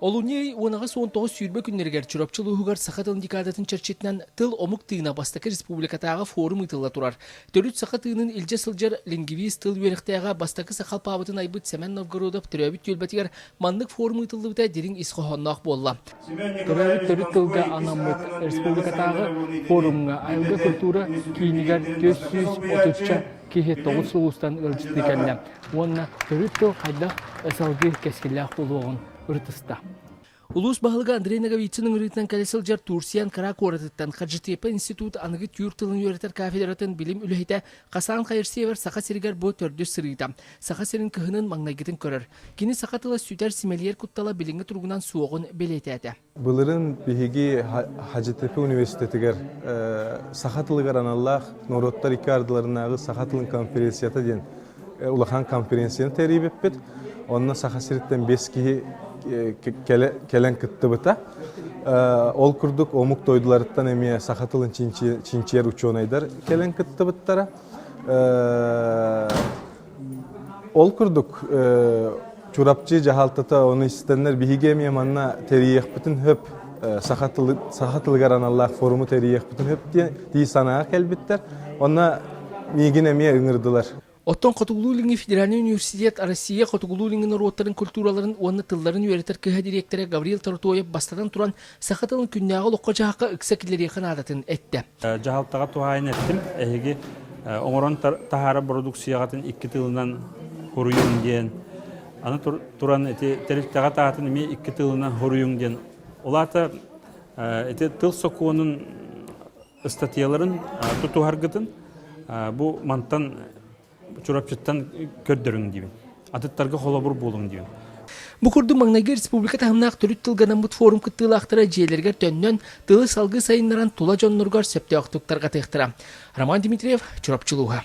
Олунньу уон аҕыс уон тоҕус сүүрбэ күннэригэр Чурапчы улууһугар саха тылын декадатын чэрчитинэн тыл омук тыына бастакы республикатааҕы форум ыытылла турар. Төрүт саха тыынын илдьэ сылдьар лингвист тыл үөрэхтээҕэ бастакы сахалпаабытын айбыт Семен Новгородов төрөөбүт түөлбэтигэр маннык форум ыытыллыбыта дириҥ ис хоһоонноох буолла. Төрөөбүт төрүт тылга анаммыт республикатааҕы форумҥа айылга культура киинигэр түөрт сүүс отучча киһи тоҕус улуустан ыалдьытыы кэллэ. уонна төрүт тыл хайдах салгыы кэскиллээх буолуоҕун ырытыста. Улуус баһылыга Андрей Ноговицын ыҥырыытынан кэлэ сылдьар Турсиан Кыра куоратыттан Хаджитепа институт аныгы түүр тылын үөрэтэр кафедратын билим үлэһитэ Хасан Хайырсиевэр Саха сиригэр бу төрдүс сырыыта Саха сирин кыһынын маҥнайгытын көрөр. Кини саха тыла сүтэр симэлийэр куттала билиҥҥи туругунан суоҕун бэлиэтээтэ. Былырын биһиги Хадьытыка университетигэр саха тылыгар аналлаах норуоттар икки ардыларынааҕы саха тылын конференцията диэн улахан конференцияны тэрийбиппит. Онно Саха сириттэн бэс киһи кэлэн кыттыбыта. Ол курдук омук дойдуларыттан эмиэ саха тылын чинчийэр учуонайдар кэлэн кыттыбыттара. Ол курдук Чурапчы дьаһалтата ону истэннэр биһиги эмиэ манна тэрийиэхпитин сөп саха тылы саха тылыгар аналлаах форуму тэрийиэхпитин сөп диэн дии санааҕа кэлбиттэр онно миигин эмиэ ыҥырдылар Оттон Хотугулуу илиҥҥи федеральнай университет Россия Хотугулуу илиҥҥи норуоттарын культураларын уонна тылларын үөрэтэр кыһа дириэктэрэ Гаврил Тарутоев бастатан туран Саха тылын күннээҕи олоххо-дьаһахха ыкса киллэриэххэ наадатын эттэ. Дьаһалтаҕа туһаайан эттим, эһиги оҥорон таһаарар бородуксуйаҕытын икки тылынан хоруйуҥ диэн, аны туран ити тэрилтэҕэ таатын эмиэ икки тылынан хоруйуҥ диэн. Ол аата ити тыл сокуонун ыстатыйаларын тутуһаргытын бу мантан Чурапчыттан көрдөрүҥ диибин. Атыттарга холобур буолуҥ диибин. Бу курдук маҥнайгы республика таһымнаах төрүт тылга наммыт форум кыттыылаахтара дьиэлэригэр төннөн, тылы салгыы сайыннаран, тула дьонноругар сөптөөхтүк тарҕатыахтара. Роман Дмитриев, Чурапчы улууһа.